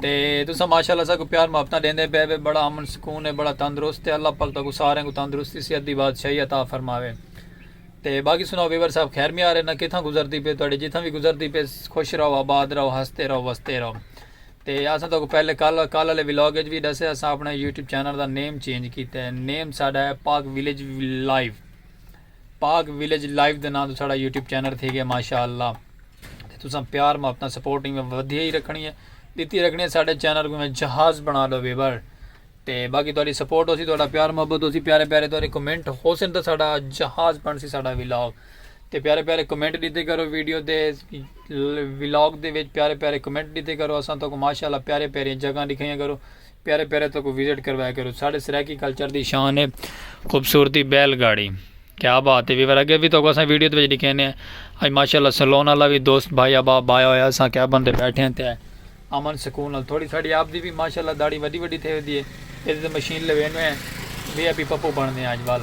تے تساں ماشاءاللہ ساکوں پیار محبتاں ڈیندے پئے وے بڑا امن سکون ہے بڑا تندرست ہے اللہ پاک تاکوں ساریں کوں تندرستی صحت دی بادشاہی عطا فرماوے تے باقی سناؤ ویور صاحب خیر میار ہے نا کتھاں گزردی پئے تہاڈی جتھاں وی گزردی پئے خوش رہو آباد رہو ہستے رہو وستے رہو تے اساں تاکوں پہلے کل کل والے ولاگ وچ وی دسے اساں اپنے یوٹیوب چینل دا نیم چینج کیتا ہے نیم ساڈا ہے Pak village live Pak village live دے ناں توں ساڑا یوٹیوب چینل تھی گیا ماشاءاللہ تے تساں پیار محبت سپورٹ میں ودھیا ہی رکھنی ہے دیتی رکھنی ہے ساڑے چینل کو میں جہاز بنا لو ویور تے باقی تہاڈی سپورٹ ہوسی تہاڈا پیار محبت ہوسی پیارے پیارے تہاڈے کمنٹ ہوسن تے ساڈا جہاز بن سی ساڈا ولاگ تے پیارے پیارے کمنٹ دیتے کرو ویڈیو دے ولاگ دے وچ پیارے پیارے کمنٹ دیتے کرو اساں تو کو ماشاءاللہ پیارے پیارے جگہ دکھائیاں کرو پیارے پیارے تو کو وزٹ کروایا کرو ساڑھے سرائیکی کلچر دی شان ہے خوبصورتی بیل گاڑی کیا بات ہے ویور اگے بھی تو کو اساں ویڈیو تے وچ دکھینے ہیں اج ماشاءاللہ سلون والا بھی دوست بھائی ابا بایا ہویا اساں کیا بندے بیٹھے ہیں تے امن سکون نال تھوڑی ساڑی آپ دی بھی ماشاءاللہ داڑھی ودی ودی تھے ودی ہے اس مشین لوینے ہیں وی اے پی پپو بننے ہیں اج وال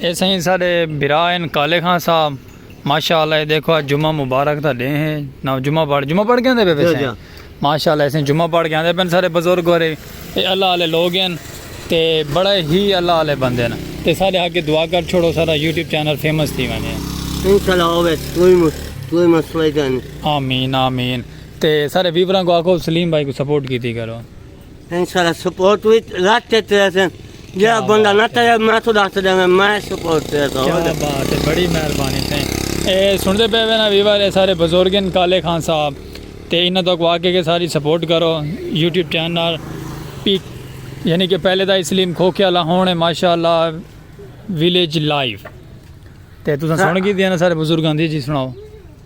اے سائیں ساڈے بھرا ہیں کالے خان صاحب ماشاءاللہ اے دیکھو اج جمعہ مبارک دا ڈے ہیں نہ جمعہ پڑھ جمعہ پڑھ کے آندے پے پیسے ماشاءاللہ اے سائیں جمعہ پڑھ کے آندے پن سارے بزرگ ہورے اے اللہ والے لوگ ہیں تے بڑے ہی اللہ والے بندے ہیں تے سارے آگے دعا کر چھوڑو سارا یوٹیوب چینل فیمس تھی ونے انشاءاللہ ہوے کوئی مسئلہ نہیں آمین آمین تے سارے ویوراں کو آکھو سلیم بھائی کو سپورٹ کیتی کرو۔ انشاءاللہ سپورٹ وی رج تے تریسے جیڑا بندہ نہ ترے میں تو ڈاکھ تریسے میں میں سپورٹ تریسے کیا بات ہے بڑی مہربانی تھیں اے سنڑتے پے وے نا ویور اے سارے بزرگ ہیں کالے خان صاحب تے انہاں تو کو آکھے کہ ساری سپورٹ کرو یوٹیوب چینل پی یعنی کہ پہلے دا اسلیم کھوکھے والا ہون ہے ماشاءاللہ ویلیج لائیو تے تساں سن کی دینا سارے بزرگاں دی جی سناؤ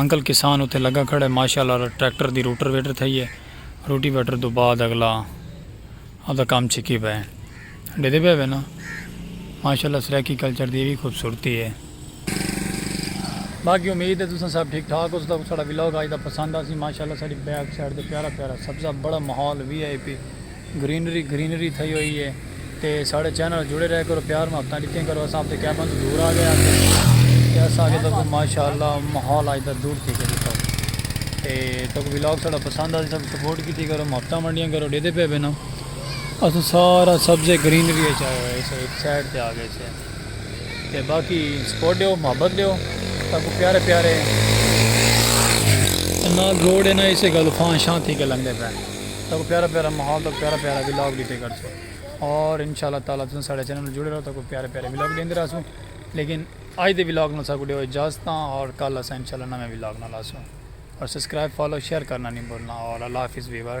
انکل کسان اتھے لگا کھڑے ماشاءاللہ ٹریکٹر دی روٹر ویٹر تھئی اے روٹی ویٹر توں بعد اگلا ادا کام چھکی پئے ڈیدے پئے وینا ماشاءاللہ سرائیکی کلچر دی وی خوبصورتی اے۔ باقی امید اے تساں سب ٹھیک ٹھاک ہوسو تاکوں ساڈا ولاگ اج دا پسند آسی ماشاءاللہ ساڈی بیک سائیڈ تے پیارا پیارا سبزہ بڑا ماحول V I P. Greenery greenery تھئی ہوئی ہے تے ساڑے چینل نال جڑے رہے کرو پیار محبتاں ڈتیاں کرو اساں اپنے کیمرے توں دور آ گئے ہاں تے اساں اگے تکوں ماشاءاللہ ماحول اج دا دور تھی گئے تھا تے تکوں ولاگ ساڑا پسند آ سب سپورٹ کیتی کرو محبتاں ونڈیاں کرو ڈیدے پے بنا اساں سارا سبزے گرینری اچ آئے ہوئے سے ایک سائیڈ تے آ گئے سے تے باقی سپورٹ دیو محبت دیو تکوں پیارے پیارے نا گوڑے نا اسے گلو فان شان تھی کے لنگے پے تاکو پیارا پیارا ماحول تاکو پیارا پیارا ولاگ ڈتے کرسو اور انشاءاللہ تعالی تساں ساڈے چینل نال جڑے رہو تاکو پیارے پیارے ولاگ ڈیندے رہسو لیکن اج دے ولاگ نال ساکو ڈیو اجازت اور کل اساں انشاءاللہ نویں ولاگ نال آسوں اور سبسکرائب فالو شیئر کرنا نی بھولنا اور اللہ حافظ ویور